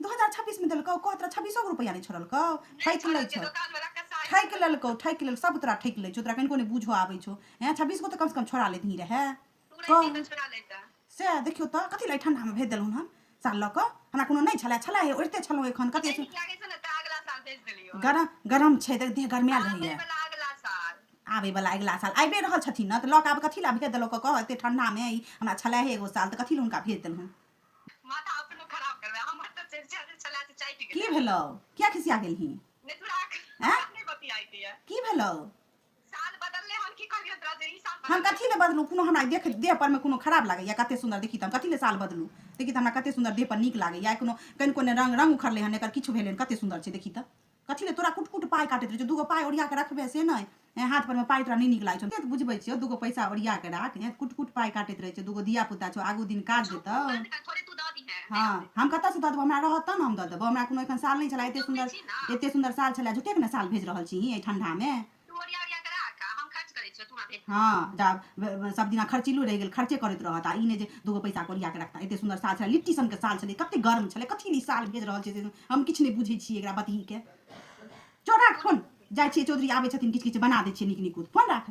दू हजार छब्बीसमे देलकौ कह तोरा छब्बीसो गो रुपैआ नहि छोड़लकौ ठकि लै छौ ठकि लेलकौ ठकि लेल सब तोरा ठकि लै छौ तोरा कनिको नहि बूझऽ आबै छौ हैं छब्बीस गो तऽ कमसँ कम छोड़ा लेतही रहए सएह देखियौ तऽ कथी लए ठण्डामे भेज देलहुँ हन साल लऽ कऽ हमरा कोनो नहि छलै छलै हे ओढ़िते छलहुँ एखन कते गरम गरम छै तऽ देह गरमायल रहैए आबैवला अगिला साल आबि रहल छथिन ने तऽ लऽ कऽ आब कथी लए भेज देलहुँ कऽ कह एतेक ठण्डामे ई हमरा छलै हे एगो साल तऽ कथी लए हुनका भेज देलहुँ की भेलो क्या खिसिया गेल ही की भेलो हम कथी ले बदलू कोनो हमरा देख देह पर में कोनो खराब लागैया कते सुंदर देखी तम कथी ले साल बदलू देखी त हमरा कते सुंदर देह पर नीक लागैया कोनो कनि कोने रंग रंग उखड़ले हन एकर किछु भेलै कते सुंदर छै देखी त कथी ले तोरा कुट कुट पाइ काटैत रहै छौ दूगो पाइ ओरिया कऽ रखबे से नहि हेँ हाथ परमे पाइ तोरा नहि नीक लागै छौ तऽ बुझबै छियौ दूगो पैसा ओरिया कऽ राख हेँ कुट कुट पाइ काटैत रहै छौ दूगो धिया पुता छौ आगू दिन काज देतौ हँ हम कतऽसँ दऽ देबौ हमरा रहत तब ने हम दऽ देबौ हमरा कोनो एखन साल नहि छलै एतेक सुन्दर एतेक सुन्दर साल छलै झूठेके ने साल भेज रहल छी एहि ठण्डामे हँ जा सब दिना खर्चिलो रहि गेल खर्चे करैत रहत आ ई नहि जे दूगो पैसा कोरिया के रखता एते सुंदर साल छलै लिट्टी सनके साल छलै कते गर्म छलै कथी ई साल भेज रहल छै हम किछु नहि बुझै छियै एकरा बतही के चोरा फोन जाइ छियै चौधरी आबै छथिन किछु किछु बना दै छियै नीक नीक फोन राख